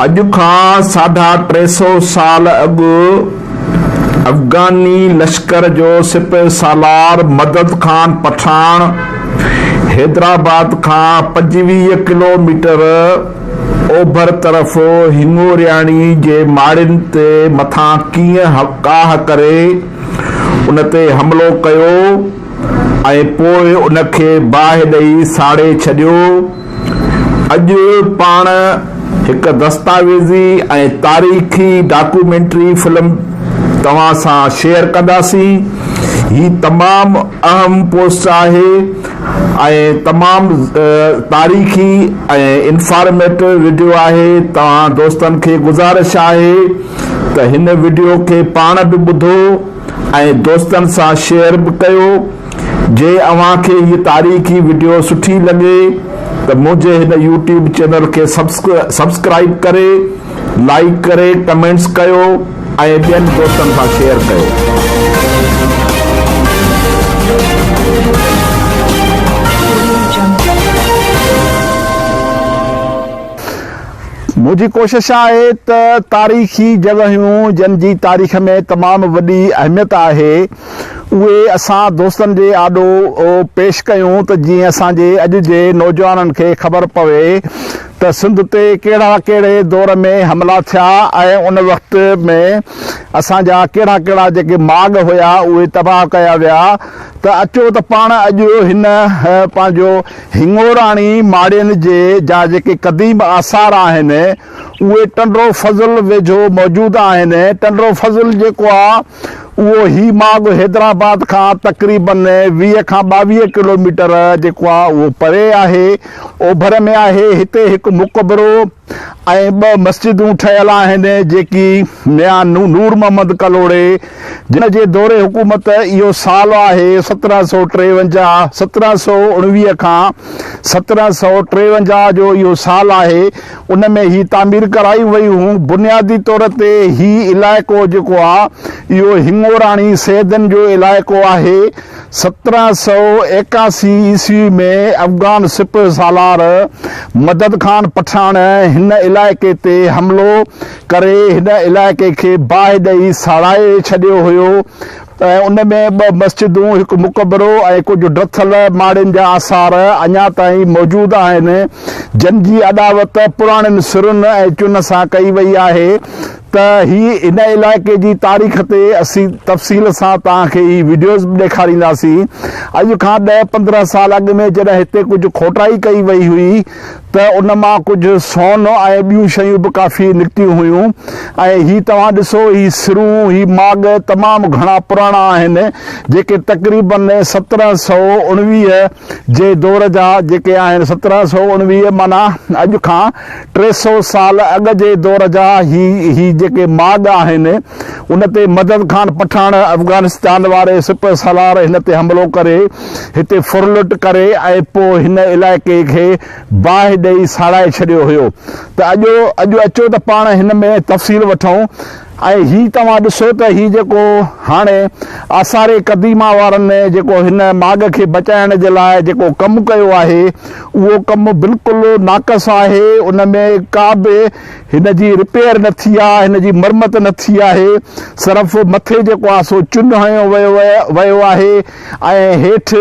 اڄ کان ساڍا ٽي سؤ سال اڳ افغاني لشڪر جو سپهه سالار مدد خان پٺاڻ حيدرآباد کان پنجويهه ڪلو ميٽر اوڀر طرف هڱورياڻي جي ماڙين تي مٿان ڪيئن ڪاهه ڪري ان تي حملو ڪيو ۽ پوء ان کي باهه ڏئي ساڙي ڇڏيو. اڄ پاڻ هڪ دستاويزي ۽ تاريخي ڊاڪومينٽري فلم توهان سان شيئر ڪنداسين. هي تمام اهم پوسٽ آهي ۽ تمام تاريخي ۽ انفارميٽو وڊيو آهي. توهان دوستن کي گذارش آهي ته هن وڊيو کي پاڻ به ٻڌو. ۽ دوستن سان شيئر به ڪيو. جي اوهان کي هي تاريخي وڊيو سٺي لڳي ته منهنجي هن يوٽيوب چينل کي سبسڪرائيب ڪري لائيڪ ڪري ڪمينٽس ڪيو ۽ ٻين دوستن سان شيئر ڪيو. منهنجي ڪوشش آهي ته تاريخي جڳهيون جن جي تاريخ ۾ تمام وڏي اهميت آهي اهي اسان دوستن جي آڏو پيش ڪيون ته جيئن اسان جي اڄ جي نوجوانن کي خبر پوي ته سنڌ تي ڪهڙا ڪهڙي دور ۾ حملا ٿيا ۽ ان وقت ۾ اسان جا ڪهڙا ڪهڙا جيڪي ماڳ هيا اهي تباهه ڪيا ويا ته اچو ته پاڻ اڄ هن پنهنجو هڱوراڻي ماڙين جي جا جيڪي قديم آثار آهن اهي ٽنڊو فضل ويجهو موجود آهن. ٽنڊو فضل جيڪو آ اهو هي ماڳ حيدرآباد کان تقريباً ويهه کان ٻاويهه ڪلوميٽر جيڪو آ اهو پري آهي. اوڀر ۾ آهي هتي هڪ مقبرو. ۽ ٻه مسجدون ٺهيل آهن جيڪي ميان نور محمد ڪلهوڙي جن جي دور حڪومت اهو سال آهي سترهن سؤ ٽيونجاهه سترهن سؤ اڻويهه کان سترهن سؤ ٽيونجاهه جو اهو سال آهي ان ۾ هي تعمير ڪرايون ويون بنيادي طور تي هي علائقو جيڪو آهي اهو هڱوراڻي سيدن جو علائقو آهي سترهن سؤ ايڪاسي عيسوي ۾ افغان سپهه سالار مدد خان پٺاڻ هن علائقي تي حملو ڪري هن علائقي کي باهه ڏئي ساڙائي ڇڏيو هيو ۽ ان ۾ ٻه مسجدون، هڪ مقبرو ۽ ڪجهه ڊٿل ماڙين جا آثار اڃا تائين موجود آهن، جن جي اڏاوت پراڻين سرن ۽ چن سان ڪئي وئي آهي. ته هي هن علائقي جي تاريخ تي اسين تفصيل سان توهان کي هي وڊيوز به ڏيکارينداسين. اڄ کان ڏهه پندرهن سال اڳ ۾ جڏهن هتي ڪجهه کوٽائي ڪئي وئي هئي ته ان مان ڪجهه سون ۽ ٻيون شيون به ڪافي نڪتيون هيون ۽ هي توهان ڏسو هي سرون هي ماڳ تمام گهڻا پراڻا آهن جيڪي تقريبن سترهن سئو اڻويهه جي دور جا جيڪي آهن سترهن سؤ اڻويهه معنيٰ اڄ کان ٽي سؤ سال اڳ جي دور جا هي هي جيڪي ماڳ آهن ان تي مدد خان پٺاڻ افغانستان واري سپه سالار هن تي حملو ڪري هتي ڦرلٽ ڪري ۽ پو هن علائقي کي باهه ڏئي ساڙائي ڇڏيو هيو ته اڄو اڄو اچو ته پاڻ هن ۾ تفصيل وٺون ۽ هي توهان ڏسو ته هي جيڪو هاڻي آثار قديمه وارن جيڪو هن ماڳ کي بچائڻ جي لاء جيڪو ڪم ڪيو آهي اهو ڪم بلڪل ناقص آهي ان ۾ ڪا به هن جي رپيئر نه ٿي آهي هن جي مرمت نه ٿي آهي صرف مٿي جيڪو آهي سو چن هنيو ويو آهي ۽ هيٺ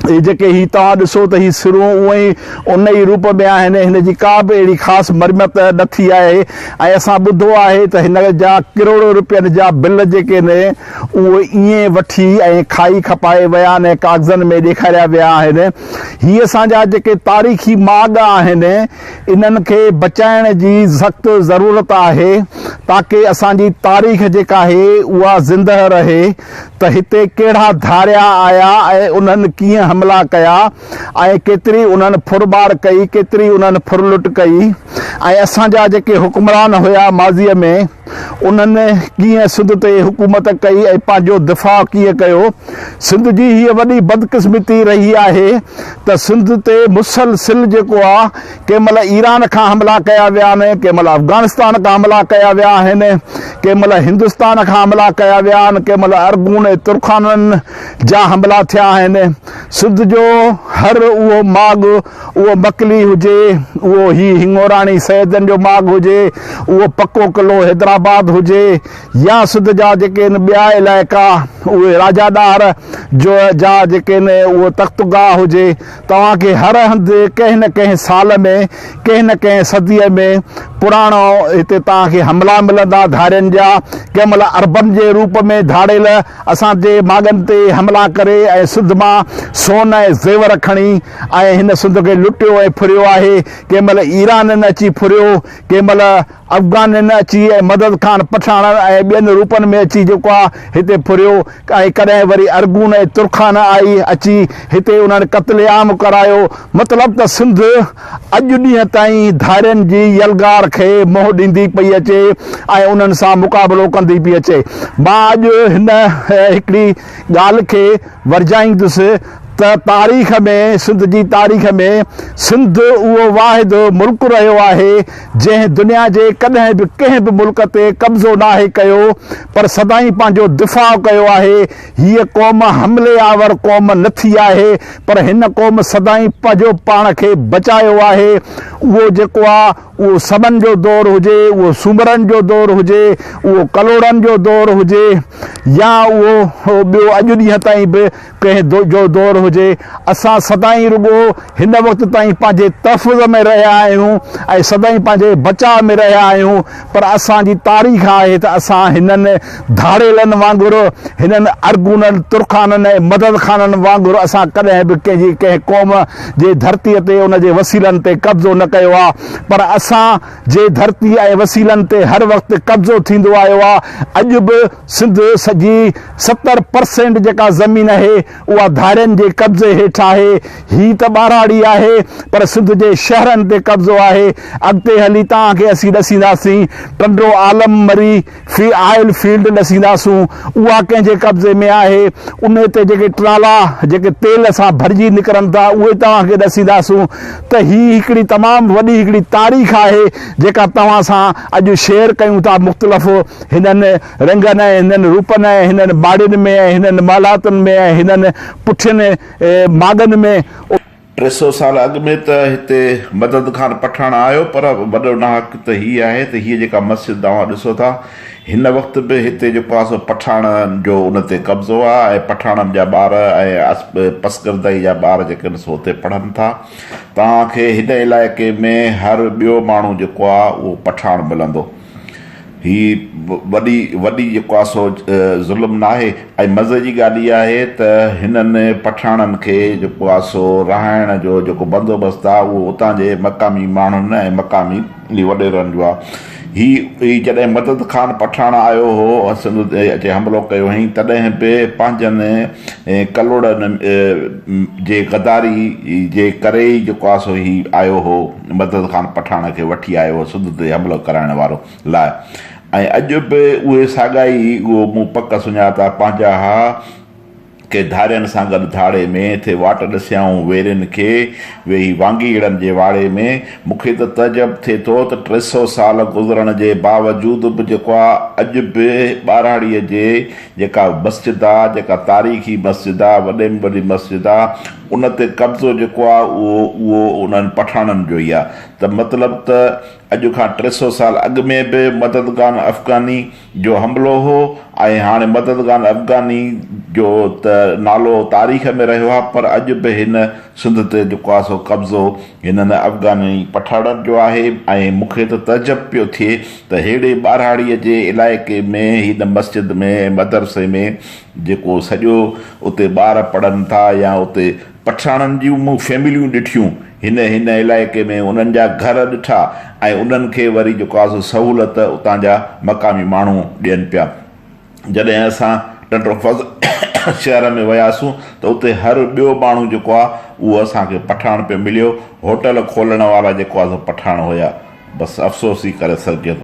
هي جيڪي هي توهان ڏسو ته هي سرون اونء ئي ان ئي روپ ۾ آهن، هن جي ڪا به اهڙي خاص مرمت نه ٿي آهي ۽ اسان ٻڌو آهي ته هن جا ڪروڙون رپين جا بل جيڪي آهن اهي ائين وٺي ۽ کائي کپائي ويا آهن ۽ ڪاغذن ۾ ڏيکاريا ويا آهن. هي اسان جا جيڪي تاريخي ماڳ آهن انهن کي بچائڻ جي سخت ضرورت آهي تاڪه اسان جي تاريخ جيڪا آهي اها زندهه رهي. ته هتي ڪهڙا ڌاريا آيا ۽ انهن ڪيئن حملا ڪيا ۽ ڪيتري انهن ڦرٻاڙ ڪئي، ڪيتري انهن ڦرلٽ ڪئي ۽ اسان جا جيڪي حڪمران هيا ماضيء ۾ انهن ڪيئن سنڌ تي حڪومت ڪئي ۽ پنهنجو دفاع ڪيئن ڪيو. سنڌ جي هيء وڏي بدقسمتي رهي آهي ته سنڌ تي مسلسل جيڪو آ، ڪنهن مهل ايران کان حملا ڪيا ويا آهن، ڪنهن مهل افغانستان کان حملا ڪيا ويا آهن، ڪنهن مهل هندستان کان حملا ڪيا ويا آهن، ڪنهن مهل ارغون ۽ ترخانن جا حملا ٿيا آهن. سنڌ جو هر اهو ماڳ، اهو مڪلي هجي، اهو هي هڱوراڻي سيدن جو ماڳ هجي، اهو پڪو قلعو حيدرآباد هجي يا سنڌ جا جيڪي آهن ٻيا علائقا، اهي راجا ڏاهر جو جا جيڪي آهن اهو تخت گاهه هجي، توهان کي هر هنڌ ڪنهن نه ڪنهن سال ۾ ڪنهن نه ڪنهن صديء ۾ پراڻو هتي توهان کي حملا ملندا ڌاڙين جا ڪنهن مهل اربن جي روپ ۾ ڌاڙيل اسان جي ماڳن تي حملا ڪري ۽ سنڌ مان سون ۽ زيور کڻي ۽ هن سنڌ کي لٽيو ۽ ڦريو آهي ڪنهن مهل ايرانين اچي ڦريو ڪنهن مهل افغانين اچي ۽ مدد خان پٺاڻن ۽ ٻين روپن ۾ اچي جيڪو آ هتي ڦريو ۽ ڪڏهن وري ارغون ۽ ترخان آئي اچي هتي انهن قتل عام ڪرايو مطلب ته سنڌ اڄ ڏينهن تائين ڌارين جي يلغار کي منهن ڏيندي پئي اچي ۽ انهن سان مقابلو ڪندي پئي اچي مان اڄ هن هڪڙي ڳالهه کي ورجائيندس ته تاريخ ۾ سنڌ جي تاريخ ۾ سنڌ اهو واحد ملڪ رهيو آهي جنهن دنيا جي ڪڏهن به ڪنهن به ملڪ تي قبضو ناهي ڪيو پر سدائين پنهنجو دفاع ڪيو آهي هيء قوم حملي آور قوم نه ٿي آهي پر هن قوم سدائين پنهجو پاڻ کي بچايو آهي اهو جيڪو آ اهو سمن جو دور هجي اهو سومرن جو دور هجي اهو ڪلهوڙن جو دور هجي يا اهو ٻيو اڄ ڏينهن تائين به ڪنهن جو دور هجي، اسان سدائين رڳو هن وقت تائين پنهنجي تحفظ ۾ رهيا آهيون ۽ سدائين پنهنجي بچاء ۾ رهيا آهيون، پر اسان جي تاريخ آهي ته اسان هنن ڌاڙيلن وانگر، هنن ارغونن، ترخانن ۽ مدد خانن وانگر اسان ڪڏهن به ڪنهن جي ڪنهن قوم جي ڌرتي تي ان جي وسيلن تي قبضو نه ڪيو آهي، پر اسان جي ڌرتي ۽ وسيلن تي هر وقت قبضو ٿيندو آيو آهي، اڄ به. سنڌ سڄي ستر پرسينٽ جيڪا زمين اهي اها ڌارين جي قبضي هيٺ آهي هي ته ٻاراڙي آهي پر سنڌ جي شهرن تي قبضو آهي اڳتي هلي توهان کي اسين ڏسينداسين ٽنڊو عالم مري في آئل فيلڊ ڏسينداسون اها ڪنهن جي قبضي ۾ آهي ان تي جيڪي ٽرالا جيڪي تيل سان ڀرجي نڪرن ٿا اهي توهان کي ڏسينداسون ته هي هڪڙي تمام وڏي هڪڙي تاريخ آهي جيڪا توهان سان اڄ شيئر ڪيون ٿا مختلف هنن رنگن ۽ هنن روپن ۽ هنن ٻاڙين ۾ ۽ هنن مالهاتن ۾ ۽ هنن پٺين ماڳن ۾. ٽي سؤ سال اڳ ۾ ته هتي مدد خان پٺاڻ آيو پر وڏو ناحق ته هي آهي ته هيء جيڪا مسجد توهان ڏسو ٿا هن وقت به هتي جيڪو آهي سو پٺاڻن جو ان تي قبضو آهي ۽ پٺاڻن جا ٻار ۽ پسگردائي جا ٻار جيڪي آهن سو هتي پڙهن ٿا توهان کي هن علائقي ۾ هر ٻيو ماڻهو جيڪو آهي اهو پٺاڻ ملندو. هي وڏي وڏي جيڪو آهي سو ظلم ناهي ۽ مزي جي ڳالهه اها آهي ته هنن پٺاڻن کي جيڪو آهي سو رهائڻ جو جيڪو بندوبست آهي اهو اتان جي مقامي ماڻهن ۽ مقامي وڏيرن جو آهي هي جڏهن مدد خان پٺاڻ آيو هو سنڌ تي اچي حملو ڪيو هئائين تڏهن به پنهنجن ڪلهوڙن جي غداري جي ڪري ئي جيڪو آهي سو هي آيو هو مدد خان پٺاڻ کي وٺي آيو هو سنڌ تي حملو ڪرائڻ وارو لاء ۽ اڄ به اهي ساڳا ئي اهو مون پڪ سڃاتا پنهنجا ها ڪي ڌارين سان گڏ ڌاڙي ۾ ٿي واٽ ڏسيائون ويرين کي ويهي وانگيئڙن جي واڙي ۾ مون کي ته تعجب ٿئي ٿو ته ٽي سئو سال گذرڻ جي باوجود به جيڪو آ اڄ به ٻاراڙي جي جيڪا مسجد آ جيڪا تاريخي مسجد آ وڏي ۾ وڏي مسجد آ ان تي قبضو جيڪو آ اهو اهو انهن پٺاڻن جو ئي آ ته مطلب ته اڄ کان ٽي سئو سال اڳ ۾ به مددگان افغاني جو حملو هو ۽ هاڻي مددگان افغاني جو ته نالو تاريخ ۾ رهيو آ پر اڄ به هن سنڌ تي جيڪو آ سو قبضو هنن افغاني پٺاڻن جو آهي ۽ مون کي ته تعجب پيو ٿئي ته ههڙي ٻاراڙي جي علائقي ۾ هن مسجد ۾ ۽ مدرسي ۾ جيڪو سڄو اتي ٻار پڙهن ٿا يا اتي پٺياڻن جون مون فيمليون ڏٺيون هن هن علائقي ۾ انهن جا گهر ڏٺا ۽ انهن کي وري جيڪو آهي سو سهولت اتان جا مقامي ماڻهو ڏين پيا جڏهن اسان ٽنڊوفض شهر ۾ وياسون ته اتي هر ٻيو ماڻهو جيڪو آهي اهو اسان کي پٺاڻ پيو مليو هوٽل کولڻ وارا جيڪو آهي سو پٺاڻ هيا بس افسوس ئي ڪري سگهجي ٿو.